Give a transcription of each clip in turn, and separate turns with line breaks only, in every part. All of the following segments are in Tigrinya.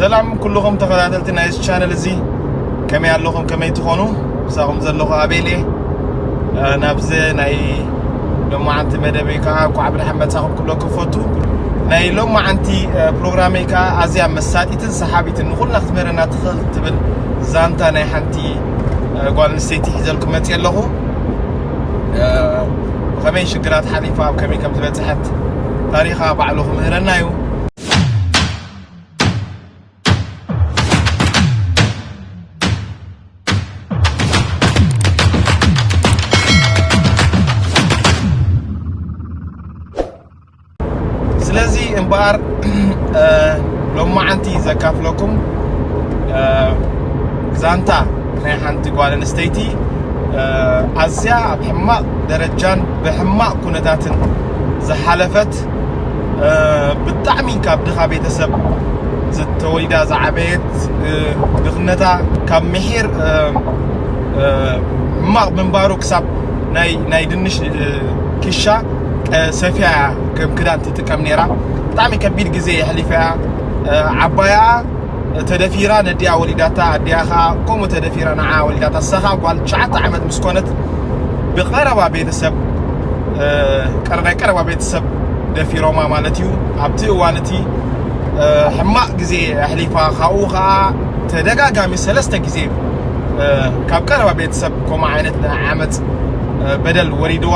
ሰላም ኩልኹም ተኸታተልቲ ናይ እዚ ቻነል እዚ ከመይ ኣለኹም ከመይ ትኾኑ ምሳኹም ዘለኹ ኣቤል እየ ናብዚ ናይ ሎማዓንቲ መደበይ ከዓ ኳዕ ብድሓን መፃኹም ክብሎ ክፈቱ ናይ ሎማዓንቲ ፕሮግራመይ ከዓ ኣዝያ መሳጢትን ሰሓቢትን ንኹልና ክትምህረና ትኽእል ትብል ዛንታ ናይ ሓንቲ ጓል ኣንስተይቲ ሒዘልኩም መፅእ ኣለኹ ብኸመይ ሽግራት ሓሊፋ ኣብ ከመይ ከም ዝበፅሐት ታሪኻ ባዕሉ ክምህረና እዩ ስለዚ እምበኣር ሎማዓንቲ ዘካፍለኩም ዛንታ ናይ ሓንቲ ጓል ኣንስተይቲ ኣዝያ ኣብ ሕማቕ ደረጃን ብሕማቕ ኩነታትን ዝሓለፈት ብጣዕሚ ካብ ድኻ ቤተሰብ ተወሊዳ ዝዓበየት ድኽነታ ካብ ምሒር ሕማቕ ምንባሩ ክሳብ ናይ ድንሽ ክሻ ሰፊያ እያ ከም ክዳን ትጥቀም ነይራ ብጣዕሚ ከቢድ ግዜ የሕሊፈ እያ ዓባያ ተደፊራ ነዲኣ ወሊዳታ ኣዲኣ ከኣ ከምኡ ተደፊራ ንዓ ወሊዳታ ሳኻ ጓል ትሽዓተ ዓመት ምስ ኮነት ብቀረባ ቤተሰብ ቀረናይ ቀረባ ቤተሰብ ደፊሮማ ማለት እዩ ኣብቲ እዋን እቲ ሕማቅ ግዜ ኣሕሊፋ ካብኡ ከኣ ተደጋጋሚ ሰለስተ ግዜ ካብ ቀረባ ቤተሰብ ከምኡ ዓይነት ናይ ዓመፅ በደል ወሪድዋ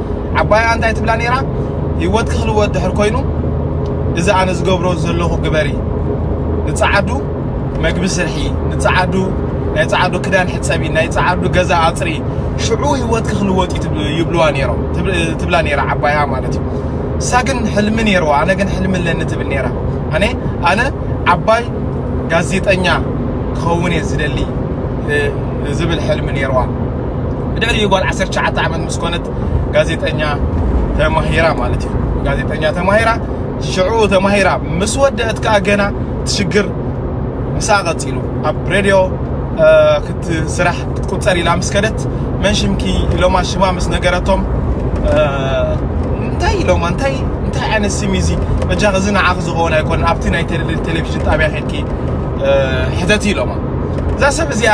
ዓባይኣ እንታይ ትብላ ነይራ ሂወትኪ ክልወጥ ድሕር ኮይኑ እዚ ኣነ ዝገብሮ ዘለኹ ግበሪ ንጻዓዱ መግቢ ስርሒ ንጻዓዱ ናይ ጻዓዱ ክዳን ሕጸቢ ናይ ጻዓዱ ገዛ ኣጽሪ ሽዑ ሂወትኪ ክልወጥ ይብልዋ ነይሮም ትብላ ነይራ ዓባይኣ ማለት እዩ እሳ ግን ሕልሚ ነይርዋ ኣነ ግን ሕልሚ ኣለኒ ትብል ነይራ ኣነ ኣነ ዓባይ ጋዜጠኛ ክኸውን እየ ዝደሊ ዝብል ሕልሚ ነይርዋ ብድሕሪኡ ጓል ዓሰርተ ትሽዓተ ዓመት ምስ ኮነት ጋዜጠኛ ተማሂራ ማለት እዩ ጋዜጠኛ ተማሂራ ሽዑ ተማሂራ ምስ ወደአት ከዓ ገና ትሽግር ምሳ ቀፂሉ ኣብ ሬድዮ ክትስራሕ ክትቁፀር ኢላ ምስ ከደት መን ሽምኪ ኢሎማ ሽማ ምስ ነገረቶም እንታይ ኢሎማ እንታይ እንታይ ዓይነት ስም እዩ እዚ በጃኺ እዚ ንዓኺ ዝኸውን ኣይኮነን ኣብቲ ናይ ቴሌቭዥን ጣብያ ኬድኪ ሕተቲ ኢሎማ እዛ ሰብ እዚኣ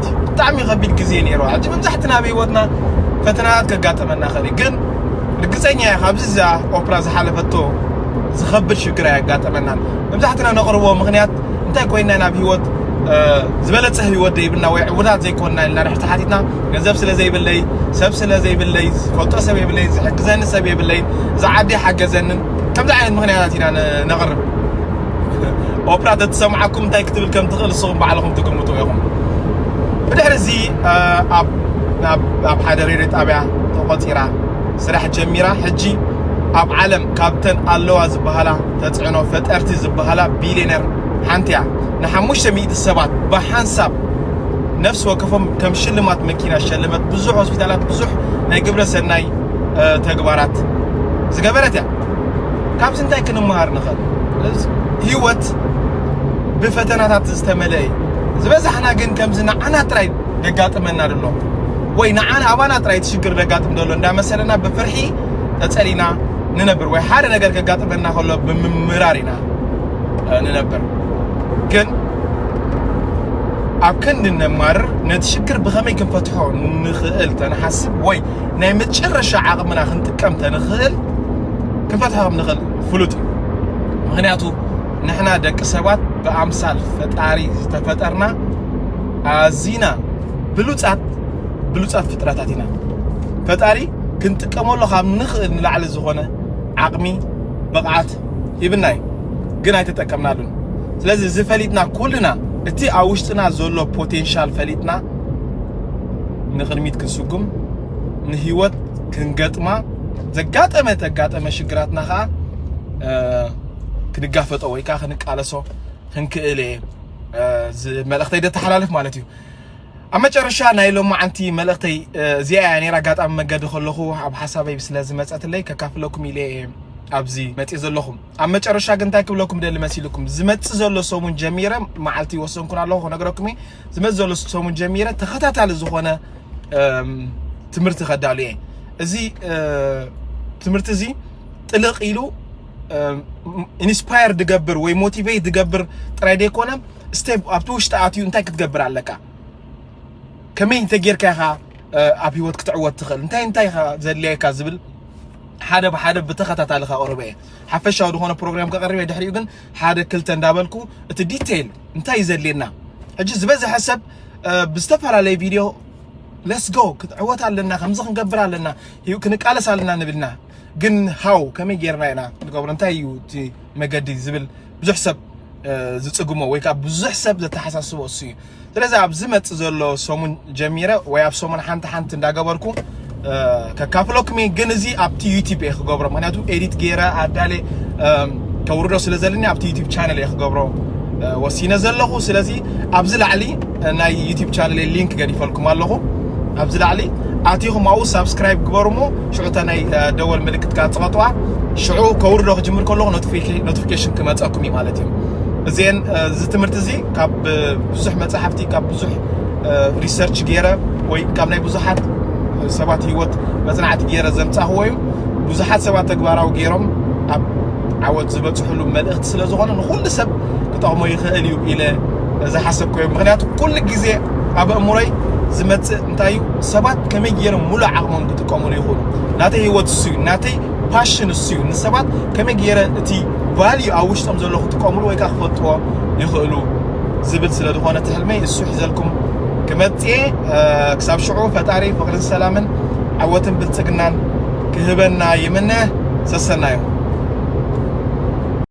ሓፍቲ ብጣዕሚ ከቢድ ግዜ ነይሩ ኣብዚ መብዛሕትና ኣብ ህይወትና ፈተናታት ከጋጠመና ኸእል ግን ርግፀኛ እያ ካብዚ እዛ ኦፕራ ዝሓለፈቶ ዝኸብድ ሽግር ኣያጋጠመናን መብዛሕትና ነቕርቦ ምክንያት እንታይ ኮይና ናብ ህይወት ዝበለፀ ህይወት ዘይብልና ወይ ዕቡዳት ዘይኮንና ኢልና ንሕቲ ሓቲትና ገንዘብ ስለ ዘይብለይ ሰብ ስለ ዘይብለይ ዝፈልጦ ሰብ የብለይ ዝሕግዘኒ ሰብ የብለይ እዚ ዓዲ ሓገዘንን ከምዚ ዓይነት ምክንያታት ኢና ነቕርብ ኦፕራ ተትሰምዓኩም እንታይ ክትብል ከም ትኽእል ንስኹም ባዕልኹም ትግምቱ ኢኹም ብድሕሪ እዚ ኣብ ሓደ ሬድዮ ጣብያ ተቖፂራ ስራሕ ጀሚራ ሕጂ ኣብ ዓለም ካብተን ኣለዋ ዝበሃላ ተፅዕኖ ፈጠርቲ ዝበሃላ ቢልዮነር ሓንቲ እያ ንሓሙሽተ ሚእቲ ሰባት ብሓንሳብ ነፍሲ ወከፎም ከም ሽልማት መኪና ሸለመት ብዙሕ ሆስፒታላት ብዙሕ ናይ ግብረ ሰናይ ተግባራት ዝገበረት እያ ካብዚ እንታይ ክንመሃር ንኽእል? ህይወት ብፈተናታት ዝተመልአ እዩ። ዝበዛሕና ግን ከምዚ ንዓና ጥራይ ደጋጥመና ደሎ ወይ ንዓና ኣባና ጥራይ እቲ ሽግር ደጋጥም ደሎ እንዳመሰለና ብፍርሒ ተጸሊና ንነብር ወይ ሓደ ነገር ከጋጥመና ከሎ ብምምራር ኢና ንነብር ግን ኣብ ክንዲ ነማርር ነቲ ሽግር ብኸመይ ክንፈትሖ ንኽእል ተንሓስብ ወይ ናይ መጨረሻ ዓቕምና ክንጥቀም ተንኽእል ክንፈትሖ ከም ንኽእል ፍሉጥ እዩ ምክንያቱ ንሕና ደቂ ሰባት ብኣምሳል ፈጣሪ ዝተፈጠርና ኣዚና ብሉፃት ብሉፃት ፍጥረታት ኢና ፈጣሪ ክንጥቀመሉ ካብ ንኽእል ንላዕሊ ዝኾነ ዓቕሚ ብቕዓት ሂብና እዩ ግን ኣይተጠቀምናሉን ስለዚ እዚ ፈሊጥና ኩልና እቲ ኣብ ውሽጥና ዘሎ ፖቴንሻል ፈሊጥና ንቕድሚት ክንስጉም ንህይወት ክንገጥማ ዘጋጠመ ተጋጠመ ሽግራትና ኸዓ ክንጋፈጦ ወይ ከዓ ክንቃለሶ ክንክእል እየ መልእኽተይ ደተሓላልፍ ማለት እዩ ኣብ መጨረሻ ናይ ሎማዓንቲ መልእኽተይ እዚኣ እያ ነራ ኣጋጣሚ መገዲ ከለኹ ኣብ ሓሳበይ ስለ ዝመፀትለይ ከካፍለኩም ኢለ ኣብዚ መፂ ዘለኹ ኣብ መጨረሻ ግን እንታይ ክብለኩም ደሊ መሲልኩም ዝመፅእ ዘሎ ሰሙን ጀሚረ መዓልቲ ይወሰንኩን ኣለኹ ክነግረኩም እየ ዝመዘሉ ሰሙን ጀሚረ ተኸታታሊ ዝኾነ ትምህርቲ ከዳሉ እየ እዚ ትምህርቲ እዚ ጥልቕ ኢሉ ኢንስፓየር ድገብር ወይ ሞቲቬት ድገብር ጥራይ ደይኮነ ስቴፕ ኣብቲ ውሽጢ ኣትዩ እንታይ ክትገብር ኣለካ ከመይ እንተጌርካ ኢኻ ኣብ ህይወት ክትዕወት ትኽእል እንታይ እንታይ ኢኻ ዘድልየካ ዝብል ሓደ ብሓደ ብተኸታታሊ ከቕርበ እየ ሓፈሻዊ ዝኾነ ፕሮግራም ከቕርበ ድሕሪኡ ግን ሓደ ክልተ እንዳበልኩ እቲ ዲቴይል እንታይ እዩ ዘድልየና ሕጂ ዝበዝሐ ሰብ ብዝተፈላለየ ቪድዮ ለስጎ ክትዕወት ኣለና ከምዚ ክንገብር ኣለና ክንቃለስ ኣለና ንብልና ግን ሃው ከመይ ጌርና ኢና ንገብሮ እንታይ እዩ እቲ መገዲ ዝብል ብዙሕ ሰብ ዝፅግሞ ወይ ከዓ ብዙሕ ሰብ ዘተሓሳስቦ እሱ እዩ ስለዚ ኣብ ዝመጽእ ዘሎ ሰሙን ጀሚረ ወይ ኣብ ሰሙን ሓንቲ ሓንቲ እንዳገበርኩ ከካፍለኩም እየ ግን እዚ ኣብቲ ዩቲብ እየ ክገብሮ ምክንያቱ ኤዲት ገይረ ኣዳለ ከውርዶ ስለ ዘለኒ ኣብቲ ዩቲብ ቻነል እየ ክገብሮ ወሲነ ዘለኹ ስለዚ ኣብዚ ላዕሊ ናይ ዩቲብ ቻነል ሊንክ ገዲፈልኩም ኣለኹ ኣብዚ ላዕሊ ኣቲኹም ኣብኡ ሳብስክራይብ ግበሩ እሞ ሽዑ እታ ናይ ደወል ምልክት ካብ ፅቐጥዋ ሽዑ ከውርዶ ክጅምር ከለኹ ኖቲፊኬሽን ክመፀኩም እዩ ማለት እዩ እዚን እዚ ትምህርቲ እዚ ካብ ብዙሕ መጻሕፍቲ ካብ ብዙሕ ሪሰርች ገይረ ወይ ካብ ናይ ብዙሓት ሰባት ህይወት መጽናዕቲ ገይረ ዘምጻኽዎ እዩ ብዙሓት ሰባት ተግባራዊ ገይሮም ኣብ ዓወት ዝበፅሕሉ መልእኽቲ ስለ ዝኾነ ንኹሉ ሰብ ክጠቕሞ ይኽእል እዩ ኢለ ዝሓሰብኮ እዩ ምክንያቱ ኩሉ ግዜ ኣብ እምሮይ ዝመፅእ እንታይ እዩ ሰባት ከመይ ገይሮም ሙሉእ ዓቕሞም ክጥቀሙሉ ይኽእሉ ናተይ ህይወት እሱ እዩ ናተይ ፓሽን እሱ እዩ ንሰባት ከመይ ገይረ እቲ ቫልዩ ኣብ ውሽጦም ዘሎ ክጥቀምሉ ወይ ከዓ ክፈልጥዎ ይኽእሉ ዝብል ስለ ዝኾነ እቲ ሕልመይ እሱ ሒዘልኩም ክመፅኤ ክሳብ ሽዑ ፈጣሪ ፍቕርን ሰላምን ዓወትን ብልፅግናን ክህበና ይምነ ሰሰናዩ